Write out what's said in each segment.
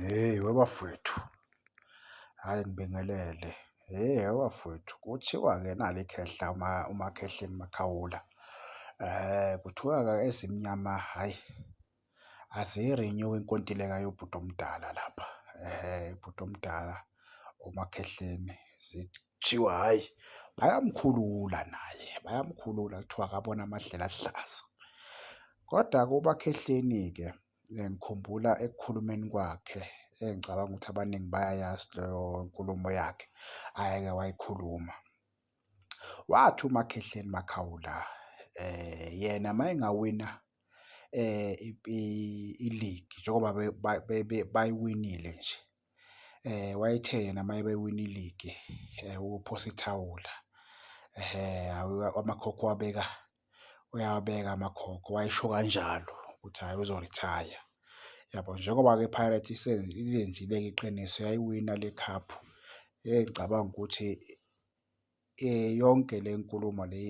Hheyi webafwethu, hhayi ngibingelele. Hheyi webafwethu, kuthiwa-ke nali ikhehla uMakhehleni Makhawula. Kuthiwa-ke ezimnyama hhayi aziyi-renew-i inkontileka yobhuti omdala lapha. Ubhuti omdala uMakhehleni kuthiwa hhayi bayamkhulula naye, bayamkhulula kuthiwa akaboni amadlela aluhlaza. Kodwa-ke uMakhehleni-ke. Ngikhumbula ekukhulumeni kwakhe engicabanga ukuthi abaningi bayayazi leyo nkulumo yakhe ayeke wayikhuluma. Wathi uMakhehleni Makhawula yena uma engawina iligi njengoba bayiwinile nje, wayethe yena uma bewina iligi uphosa ithawula amakhokho uwabeka uyawabeka amakhokho wayesho kanjalo ukuthi hhayi uzorithaya yabo njengoba-ke iPirates ilenzile-ke iqiniso yayiwina le khaphu engicabanga ukuthi um yonke le nkulumo le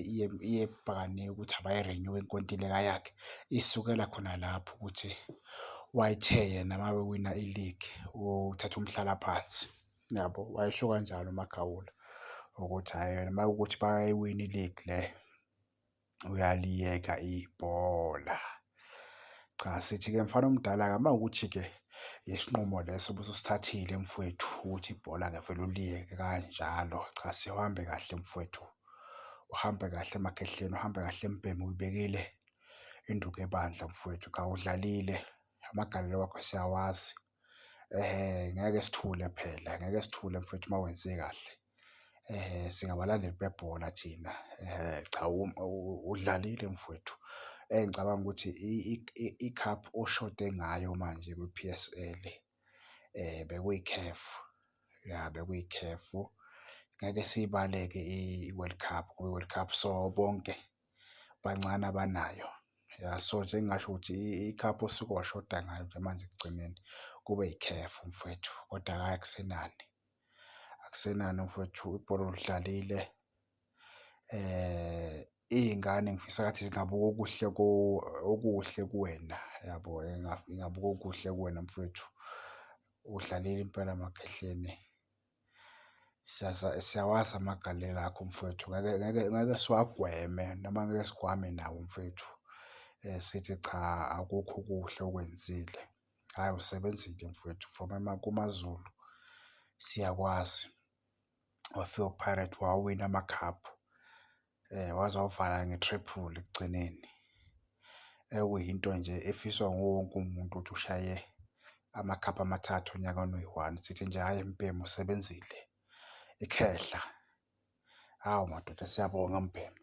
iye ukuthi abayirenyuwe inkontileka yakhe isukela khona lapho ukuthi wayithe yena uma bewina iligi uthatha umhlalaphansi. Yabo, wayesho kanjalo uMagawula ukuthi hhayi yena uma kuwukuthi bayayiwina iligi le uyaliyeka ibhola. Cha, sithi-ke mfana omdala-ke uma kuwukuthi-ke isinqumo leso ubusosithathile mfwethu ukuthi ibhola ngevele uliyeke kanjalo. Cha, sihambe kahle mfwethu, uhambe kahle emakhehleni, uhambe kahle embhemu uyibekile induku ebandla mfwethu. Cha, udlalile amagalelo wakho siyawazi. Ngeke sithule phela, ngeke sithule mfwethu uma wenze kahle. Singabalandeli bebhola thina, cha udlalile mfwethu. Engicabanga ukuthi ikhaphu oshode ngayo manje kwi-P_S_L bekuyi-CAF, ya bekuyi-CAF. Ngeke siyibale-ke i-World Cup, kwi-World Cup sobonke. bancane abanayo. Ya, so nje engingasho ukuthi ikhaphu osuke washoda ngayo nje manje ekugcineni kube yikhefu mfwethu, kodwa hhayi akusenani. Akusenani mfwethu ibhola ulidlalile. Iy'ngane ngifisa ngathi zingabuka okuhle okuhle kuwena yabo, ingabuka okuhle kuwena mfwethu. Udlalile impela Makhehleni. Siyawazi amagalelo akho mfwethu, ngeke ngeke ngeke siwagweme noma ngeke sigwame nawo mfwethu sithi cha akukho okuhle okwenzile. Hhayi usebenzile mfwethu from kuMaZulu siyakwazi, wafika uPirates wawina amakhaphu. waze wavala nge-triple ekugcineni ekuyinto nje efiswa nguwonke umuntu ukuthi ushaye amakhapha amathathu onyakeni oyi-one. Sithi nje hhayi mbhemu usebenzile ikhehla. Hawu madoda siyabonga mbhemu.